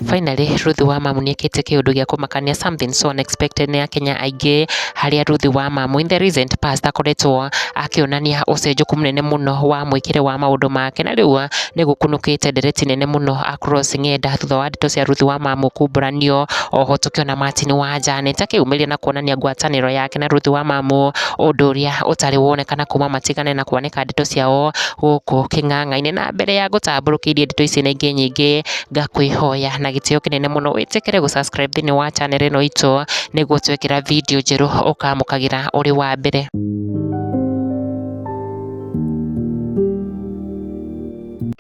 Finally, Ruth Wamamu nĩ ekĩte kĩũndũ gĩa kũmakania something so unexpected nĩ Akenya aingĩ harĩa Ruth Wamamu in the recent past akoretwo akĩonania ũcenjũku mũnene mũno wa mwĩkĩre wa maũndũ make na rĩu nĩ gũkunũkĩte ndereti nene mũno across ng'enda thutha wa ndeto cia Ruth Wamamu kumburanio oho tũkĩona Martin Wanja nĩ ta kĩumĩria na kuonania ngwatanĩro yake na Ruth Wamamu ũndũ ũrĩa ũtarĩ wonekana kuma matigane na kuoneka gũtambũrũkia ndeto ciao gũkũ kĩng'ang'a-inĩ. Na mbere ya ngũtambũrũkĩrie ndeto ici na ingĩ nyingĩ, ngakwĩhoya na gĩtĩo kĩnene mũno wĩtĩkĩre gũ subscribe thĩiniĩ wa channel ĩno itũ, nĩguo twekĩra video njerũ ũkamũkagĩra ũrĩ wa mbere.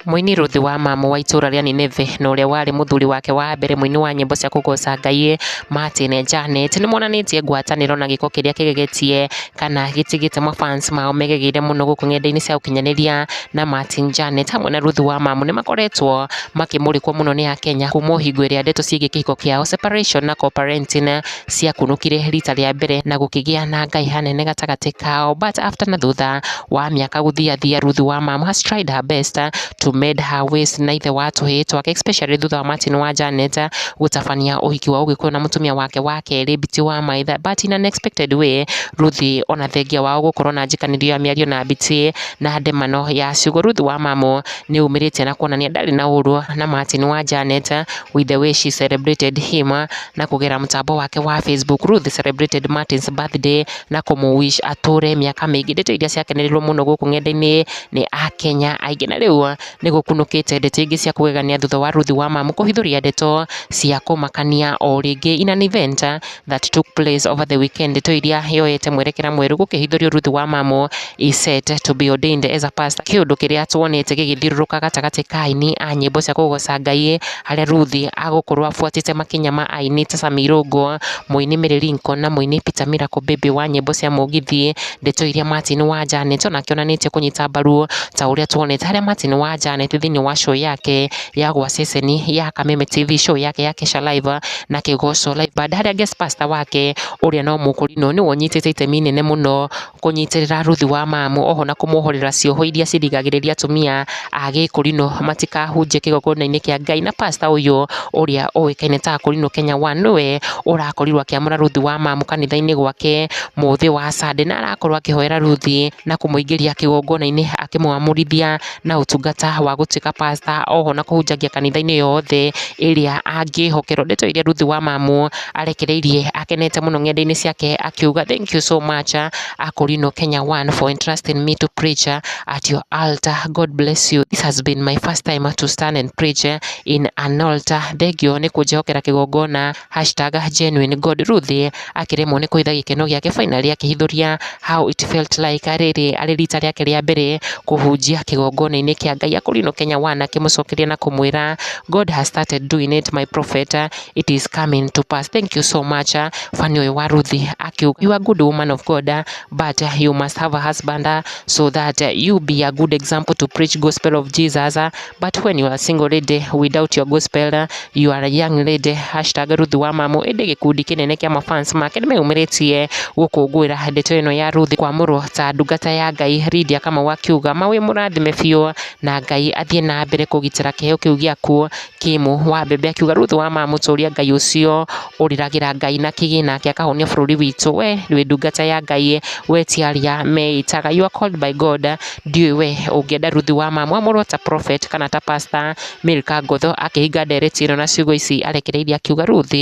Mũini Ruthu wa Mamu wa itũũra rĩa Nineve na ũrĩa warĩ mũthuri wake wa mbere mũini wa nyĩmbo cia kũgooca Ngai Martin Janet nĩ monanĩtie ngwatanĩro na gĩko kĩrĩa kĩgegetie kana gĩtigĩte mafans mao megegeire mũno gũkũ ng'enda-inĩ cia ũkinyanĩria na Martin Janet hamwe na Ruthu wa Mamu nĩ makoretwo makĩmũrĩkwo mũno nĩ Akenya kuma hingo ĩrĩa ndeto ciĩgiĩ kĩhiko kĩao separation na co-parenting ciakunũkire rita rĩa mbere na gũkĩgĩa na ngahĩha nene gatagatĩ kao but after na thutha wa mĩaka gũthiathia Ruth wa mom has tried her best to mend her ways na ithe wa tũhĩĩ twake especially thutha wa Martin wa Janet gũtabania ũhiki wa ũgĩkũyũ na mũtumia wake wa kerĩ Biti wa maitha but in an expected way Ruth ona thengia wao gũkorwo na njĩkanĩrio ya mĩario na Biti na ndemano ya ciugo Ruth wa mamu nĩ umĩrĩtie na kuonania ndarĩ na ũru na Martin wa Janet with the way she celebrated him na kũgerera mũtambo wake wa Facebook, Ruth celebrated Martin's birthday na kũmũ wish atũre mĩaka mĩingĩ. Ndeto iria ciakenerirwo mũno gũkũ ng'enda-inĩ nĩ Akenya aingĩ, na rĩu nĩ gũkunũkĩte ndeto ingĩ cia kũgegania thutha wa Ruth wa Mamu kũhithũria ndeto cia kũmakania o rĩngĩ. In an event that took place over the weekend, ndeto iria yoete mwerekera mwerũ gũkĩhithũrio Ruth wa Mamu is set to be ordained as a pastor, kĩũndũ kĩrĩa tuonete gĩgĩthiũrũrũka gatagatĩ ka aini a nyĩmbo cia kũgoca Ngai harĩa Ruthi agũkorwo abuatĩte makinya ma aini ta Sami Irũngũ, mũini Mary Lincoln na mũini Peter Miracle Baby wa nyĩmbo cia mũgithi. Ndeto iria Martin wa Janet onake onanĩtie kũnyita mbaru ta ũrĩa tuonete harĩa Martin wa Janet thĩinĩ wa show yake ya gwa ceceni ya Kameme TV show yake ya Kesha Live na Kĩgoco Live Band harĩa guest pastor wake ũrĩa no mũkũrinũ nĩwe ũnyitĩte itemi inene mũno kũnyitĩrĩra Ruthu wa mamu oho na kũmwohorera cioho iria cirigagĩrĩria atumia a gĩkũrinũ matikahunjie kĩgongona-inĩ kĩa Ngai. Na pastor ũyũ ũrĩa ũĩkaine ta Akũrinũ Kenya One nĩwe ũrakorirwo akĩamũra Ruthu wa mamu kanitha-inĩ gwake mũthĩ wa Sunday, na arakorwo akĩhoera Ruthi na kũmũingĩria kĩgongona-inĩ akĩmwamũrithia. na ũtungata wa gũtuĩka pastor oho na kũhunjagia kanitha-inĩ yothe ĩrĩa angĩhokerwo. Ndeto iria Ruth wa Mamu arekereirie akenete mũno ng'enda-inĩ ciake akiuga thank you so much Akorino Kenya One for entrusting me to preach at your altar. God bless you. This has been my first time to stand and preach in an altar. Thengiũ nĩ kũnjĩhokera kĩgongona #GenuineGodRuthi akĩremwo nĩ kũhitha gĩkeno gĩake fainarĩ akĩhithũria How It Felt Like rĩrĩ arĩ rita rĩake rĩa mbere kũhunjia kĩgongona-inĩ kĩa Ngai Akorino Kenya One akĩmũcokeria na kũmwĩra God has started doing it my prophet it is coming to pass thank you so much fan ũyũ wa Ruthi akiuga you are good woman of God but you must have a husband so that you be a good example to preach gospel of Jesus But when you are single lady without your gospel you are a young lady hashtag Ruth wa mamu ĩndĩ gĩkundi kĩnene kĩa mafans make nĩmeyumĩrĩtie gũkũngũĩra ndeto ĩno ya Ruth kwamũrwo ta ndungata ya Ngai Lydia Kamau akiuga mawĩ mũrathime biũ na Ngai athiĩ na mbere kũgitĩra kĩheo kĩu gĩaku Kimu wa mbembe akiuga Ruth wa mamu tũria Ngai ũcio ũrĩragĩra Ngai na kĩgĩ nake akahonia bũrũri witũ, we wĩ ndungata ya Ngai, we ti aria meĩtaga, you are called by God, ndiũĩ we ũngĩenda Ruth wa mama wamũrwo ta prophet kana ta pastor, Milka Ngũthũ akĩhinga ndereti ĩno na ciugo ici arekereirie akiuga, Ruth,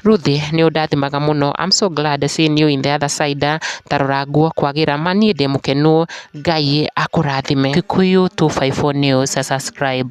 Ruth nĩ ũndathimaga mũno, I'm so glad seeing you in the other side, tarora nguo kwagĩra, ma niĩ ndĩ mũkenu, Ngai akũrathime. Kikuyu 254 News, subscribe.